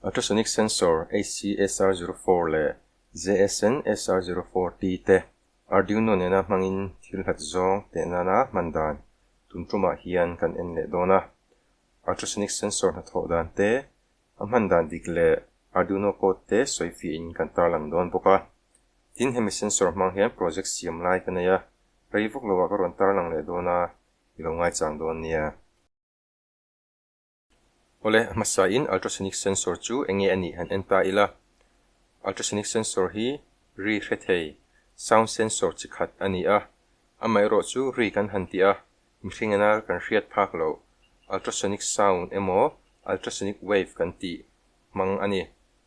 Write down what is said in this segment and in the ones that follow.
Ultrasonic Sensor, HCSR zero four leh ZSN SR zero four T te Arduino nena hmangin thil hlat zawng teh nana hman dan tum tumah hian kan en leh dawn a. Ultrasonic Sensor hnathawh dan te, a hman dan dik leh Arduino code te sawi fiahin kan tarlang dawn bawk a. Tin, hemi sensor hmang hian project siam lai ka nei a, rei vawk lo ah ka rawn tarlang leh dawn a, i lo ngaichang dawn nia. Awle, hmasain ultrasonic sensor chu eng nge a nih han en ta ila. Ultrasonic sensor hi ri hre thei sound sensor chi khat a ni a, amaherawh chu ri kan han ti a, mihring in ar kan hriat phak loh ultrasonic sound emaw ultrasonic wave kan tih hmang a ni.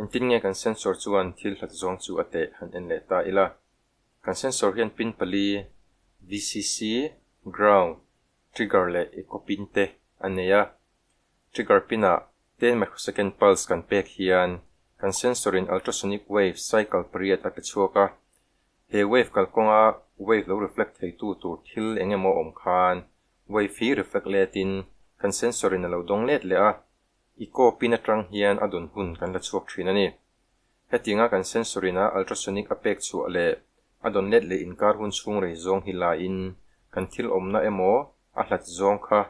Engtin nge kan sensor chuan thil hlat zawng chu a teh han en leh ta ila? Kan sensor hian pin pali, VCC, ground, trigger leh echo pin te a nei a. Trigger pinah ten microsecond pulse kan pek hian kan sensor in ultrasonic wave cycle pariat a pe chhuak a. He wave kalkawnga wave lo reflect theitu tur thil eng emaw awm khan wave hi reflect letin kan sensor in a lo dawng let leh a. I kawp in atang hian a dun hun kan la chhuak thin a ni. Hetinga kan sensory na ultrasonic a pek chhuah leh a dawn let leh inkar hun chhungrei zawng hi la in kan thil awmna emaw a hlat zawng kha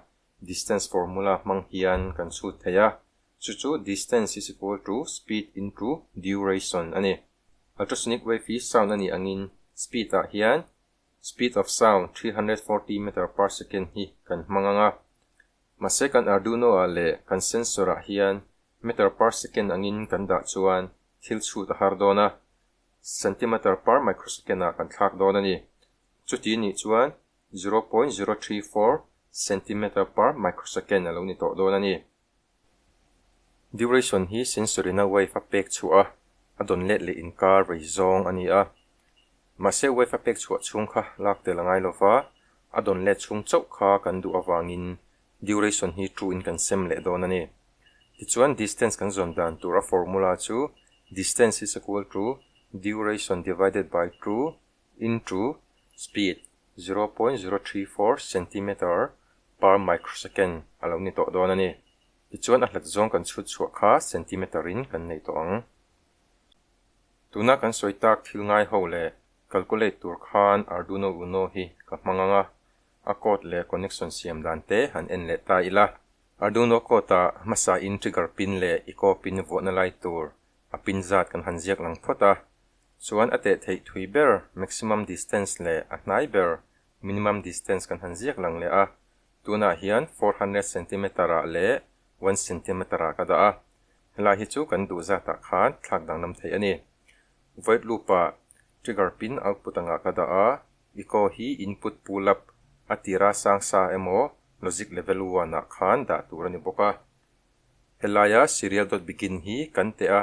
distance formula hmang hian kan chhut thei a, chu chu distance is equal to speed into duration a ni. Ultrasonic wave hi sound a nih angin speed ah hian Speed of sound three hundred and forty meter per second hi kan hmang ang a, mahse kan Arduino-ah leh kan sensor-ah hian meter per second angin kan dah chuan thil chhut a har dawn a, centimeter per microsecond-ah kan thlak dawn a ni. Chuti nih chuan zero point zero three four centimeter per microsecond a lo ni tawh dawn a ni. Duration hi Sensorina wave a pek chhuah a a dawn let leh inkar vei zawng a ni a. Mahse, wave a pek chhuah chhung kha lak tel a ngai lo va, a dawn let chhung chauh kha kan duh avangin duration hi true in kan sem leh dawn a ni. Tichuan, distance kan zawn dan tura formula chu distance is equal to duration divided by two into speed zero point zero three four centimetre per microsecond a lo ni tawh dawn a ni. Tichuan a hlat zawng kan chhut chhuah kha centimetre in kan nei tawh ang. Tuna kan sawi tak thil ngai ho leh calculate tur khan Arduino Uno hi ka hmang ang a, a code leh connection siam dan te han en leh ta ila. Arduino code ah hmasa in trigger pin leh echo pin vuahna lai tur a pin zat kan han ziak lang phawt a, Chuan a teh theih thui ber maximum distance leh a hnai ber minimum distance kan han ziak lang leh a, tunah hian four hundred centimetre ah leh one centimetre ah ka dah a, helai hi chu kan duh zatah khan thlak danglam theih a ni. Void loop ah trigger pin output angah ka dah a, echo hi input pull up a tira sang sa emaw logic level one ah khan dah tur a ni bawk a. Helaia serial dot begin hi kan teh a,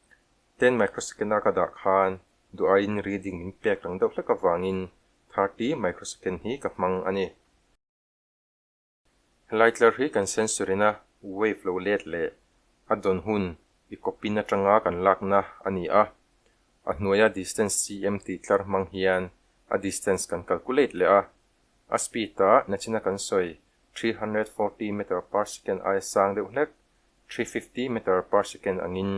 ten microsecond a ka dah khan duhaiin reading min pek reng deuh hlek avangin thirty microsecond hi ka hmang a ni. He lightlar hi kan sensorina wave lo let leh a dawn hun i copy na tanga kan lakna a ni a, a hnuaia distance cm tih tlar hmang hian a distance kan calculate leh a, a speed a nachina kan sawi three hundred forty meter per second aia sang deuh hlek three fifty meter per second angin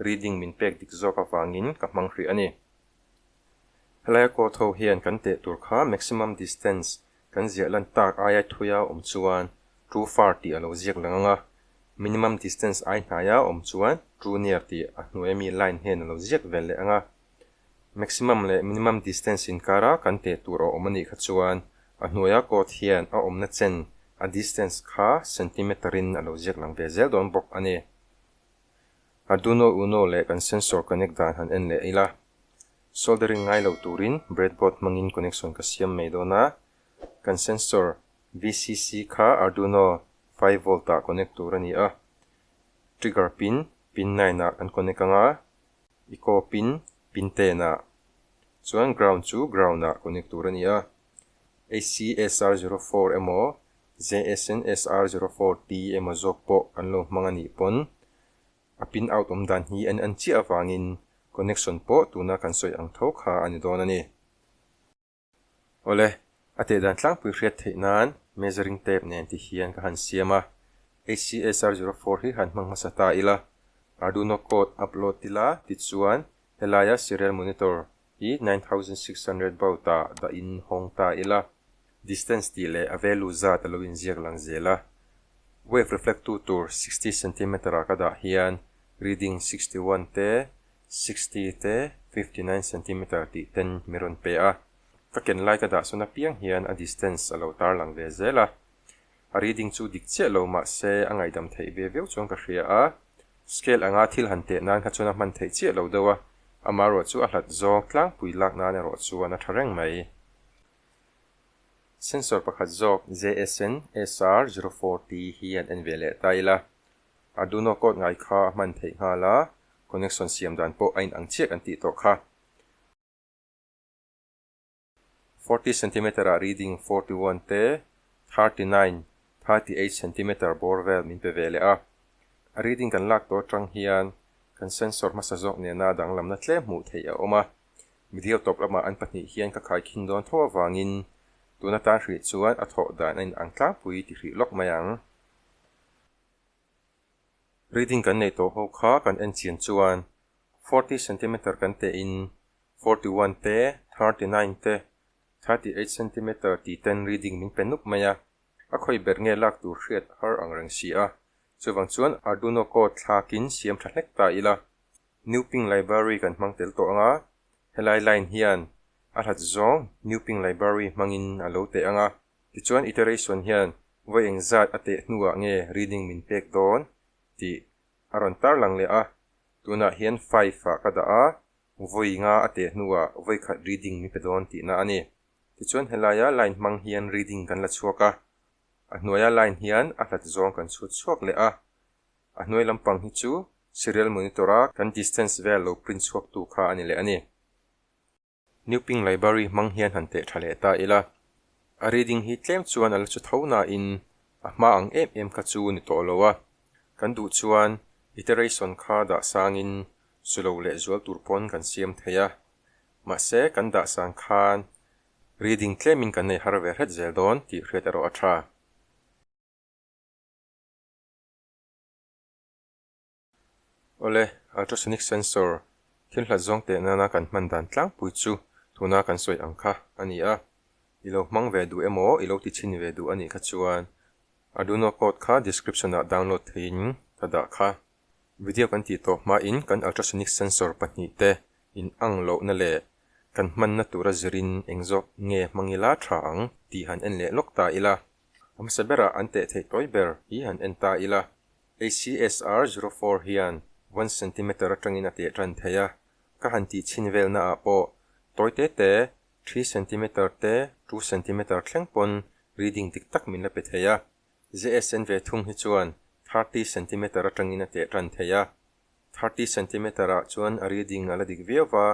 reading min pek dik zawk avangin ka hmang hrih a ni. Helaia court ho hian kan teh tur kha maximum distance kan ziah lan tak aiai thuia awm chuan too far tih a lo ziak lang ang a, minimum distance ai hnaia awm chuan too near tih a hnuaia mi line hian a lo ziak vel leh ang a, Maximum leh minimum distance inkara kan peh tur a awm a nih kha chuan a hnuaia code hian a awmna chen a distance kha centimeter in a lo ziak lang ve zel dawn bawk a ni. Arduino Uno leh kan sensor connect dan han en leh ila. Soldering ngai lo turin breadboard hmangin connection ka siam mai dawn a, kan sensor VCC kha Arduino five volt ah connect tur a ni a, trigger pin, pin nine ah kan connect anga, I kawp in pin ten ah chuan ground chu ground ah connect tur a ni a, HCSR zero four emaw JSNSR zero four T emaw zawk pawh kan lo hmang a nih pawn a pin out awm dan hi en an chiah avangin connection pawh tuna kan sawi ang tho kha a ni dawn a ni. Awle, a tehdan tlangpui hriat theih nan measuring tape nen tih hian ka han siam a, HCS R zero four hi han hmang hmasa ta ila, Arduino code upload tila tichuan helaia serial monitor hi nine thousand six hundred baud ah dah in hawng ta ila, distance tih leh a value zat a lo in ziak lang zel a, wave reflect tu tur sixty centimeter ah ka dah hian reading sixty one te sixty te fifty nine centimeter tih ten mi rawn pe a, ka ken lai ka dah sawn apiang hian a distance a lo tarlang ve zel a, a reading chu dik chiah lo mah se a ngaidam theih ve viau chuan ka hria a, scale anga thil han teh nan kha chuan a hman theih chiah lo deuh a, ama erawh chu a hlat zawk tlangpui lak nan erawh chuan a tha reng mai. Sensor pakhat zawk JSN SR zero four tih hi an en ve leh ta ila, A do not code ngai kha a hman theih nghal a, connection siam dan pawh a inang chiah kan tih tawh kha. Forty centimeter ah reading forty one te thirty nine, thirty eight centimeter bawr vel min pe ve leh a. A reading kan lak tawh atang hian kan sensor hmasa zawk nena danglamna tlem hmuh theih a awm a, middle top lamah an pahnih hian ka khai khin dawn tho avangin tuna tan hrih chuan a thawh dan a inang tlangpui ti hrih lawk mai ang. Reading kan nei tawh ho kha kan en chhian chuan forty centimetre kan teh in forty one te thirty nine te thirty eight centimetre tih ten reading min pe nup mai a, a khawi ber nge lak tur hriat har ang reng si a, chuvang chuan Arduino code thlak in siam tha hlek ta ila Nuping Library kan hmang tel tawh anga helai line hian a hlat zawng Nuping Library hmangin a lo teh anga. Tichuan iteration hian vawiin zat a teh hnuah nge reading min pek dawn tih a rawn tar lang leh a, tunah hian five ah ka dah a, vawi nga a teh hnuah vawi khat reading min pe dawn tihna a ni. Tichuan helaia line hmang hian reading kan la chhuak a, a hnuaia line hian a hlat zawng kan chhut chhuak leh a. A hnuai lampang hi chu serial monitor-a kan distance vel lo print chhuaktu kha a ni leh a ni. New Ping Library hmang hian han teh tha leh ta ila, a reading hi tlem chuan ala chu tho nain a hma ang em em kha chu ni tawh lo a, kan duh chuan iteration kha dahsangin sulo leh zual tur pawn kan siam thei a, mahse kan dahsang khan reading tlemin kan nei har ve hret zel dawn tih hriat erawh a tha. Awle, ultrasonic sensor, thil hlat zawng teh nana kan hman dan tlangpui chu tuna kan sawi ang kha a ni a, i lo hmang ve duh emaw i lo ti chhin ve duh a nih kha chuan Arduino code kha description ah download theiin ka dah kha. Video kan tih tawh hmain kan ultrasonic sensor pahnih te in ang lohna leh kan hmanna tura zirin eng zawk nge hmang ila tha ang tih han en leh lawk ta ila, a hmasa berah an teh theih tawi ber hi han en ta ila. ACSR zero four hian one centimetre atangin a teh tan thei a, ka han tih chhin velnaah pawh tawi te te three centimetre te two centimetre thleng pawn reading dik tak min la pe thei a, ZSN ve thung hi chuan thirty centimetre atangin a teh tan thei a. Thirty centimetre ah chuan a reading a la dik viau a.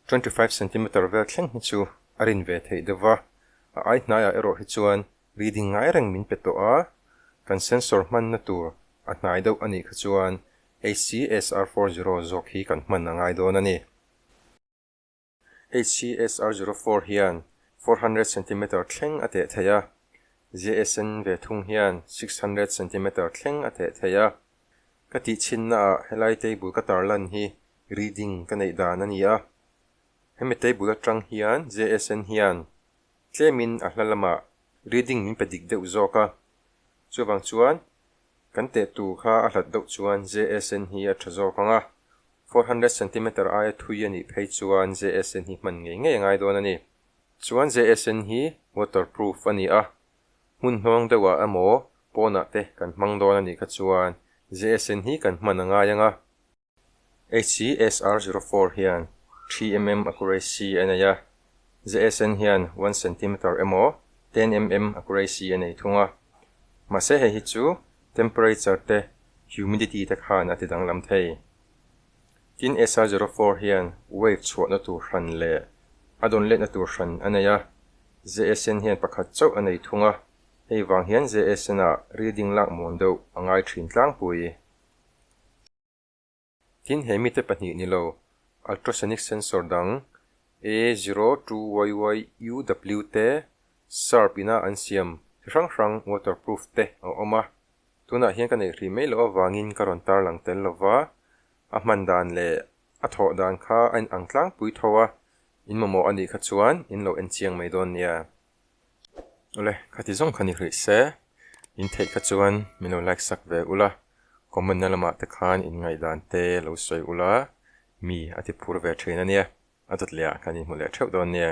Twenty five centimetre vel thleng hi chu a rin ve theih deuh a, a ai hnai ah erawh hi chuan reading ngai reng min pe tawh a, kan sensor hman na tur a hnai deuh a nih kha chuan HCSR four zero zawk hi kan hman a ngai dawn a ni. HCS R zero four hian four hundred centimetre thleng a teh theih a, JSN ve thung hian six hundred centimetre thleng a teh theih a. Ka tih chhinna ah helai table ka tar lan hi reading ka neih dan a ni a. Hemi table atang hian JSN hian tlem in a hla lamah reading min pe dik deuh zawk a, chuvang chuan Kan teh tur kha a hlat deuh chuan JSN hi a tha zawk ang a, four hundred centimetre aia thui a nih phei chuan JSN hi hman ngei ngei a ngai dawn a ni. Chuan JSN hi waterproof a ni a, hmun hnuang deuhah emaw pawnah te kan hmang dawn a nih kha chuan JSN hi kan hman a ngai ang a. HCSR zero four hian three mm accuracy a nei a, ZSN hian one centimetre emaw ten mm accuracy a nei thung a. Mahse hei hi chu temperature te humidity te khan a ti danglam thei. Tin SR zero four hian wave chhuahna tur hran leh a dawn letna tur hran a nei a, ZSN hian pakhat chauh a nei thung a, hei vang hian ZSN-a reading lak muan deuh a ngai thin tlangpui. Tin, he mite pahnih ni lo, ultrasonic sensor dang A02YYUW te, sharp ina an siam chi hrang hrang, waterproof te a awm a. Tunah hian ka neih hrih mai loh avangin ka rawn tarlang tel lo va, a hman dan leh a thawh dan kha a inang tlangpui tho a, in mamawh a nih kha chuan in lo enchiang mai dawn nia. Awle khati zawng kha ni hlih se, in theih kha chuan min lo like sak ve ula, comment na lamah te khan in ngaihdan te lo sawi ula, mi a ti phur ve thin ania, a dawt leh ah kan inhmu leh theuh dawn nia.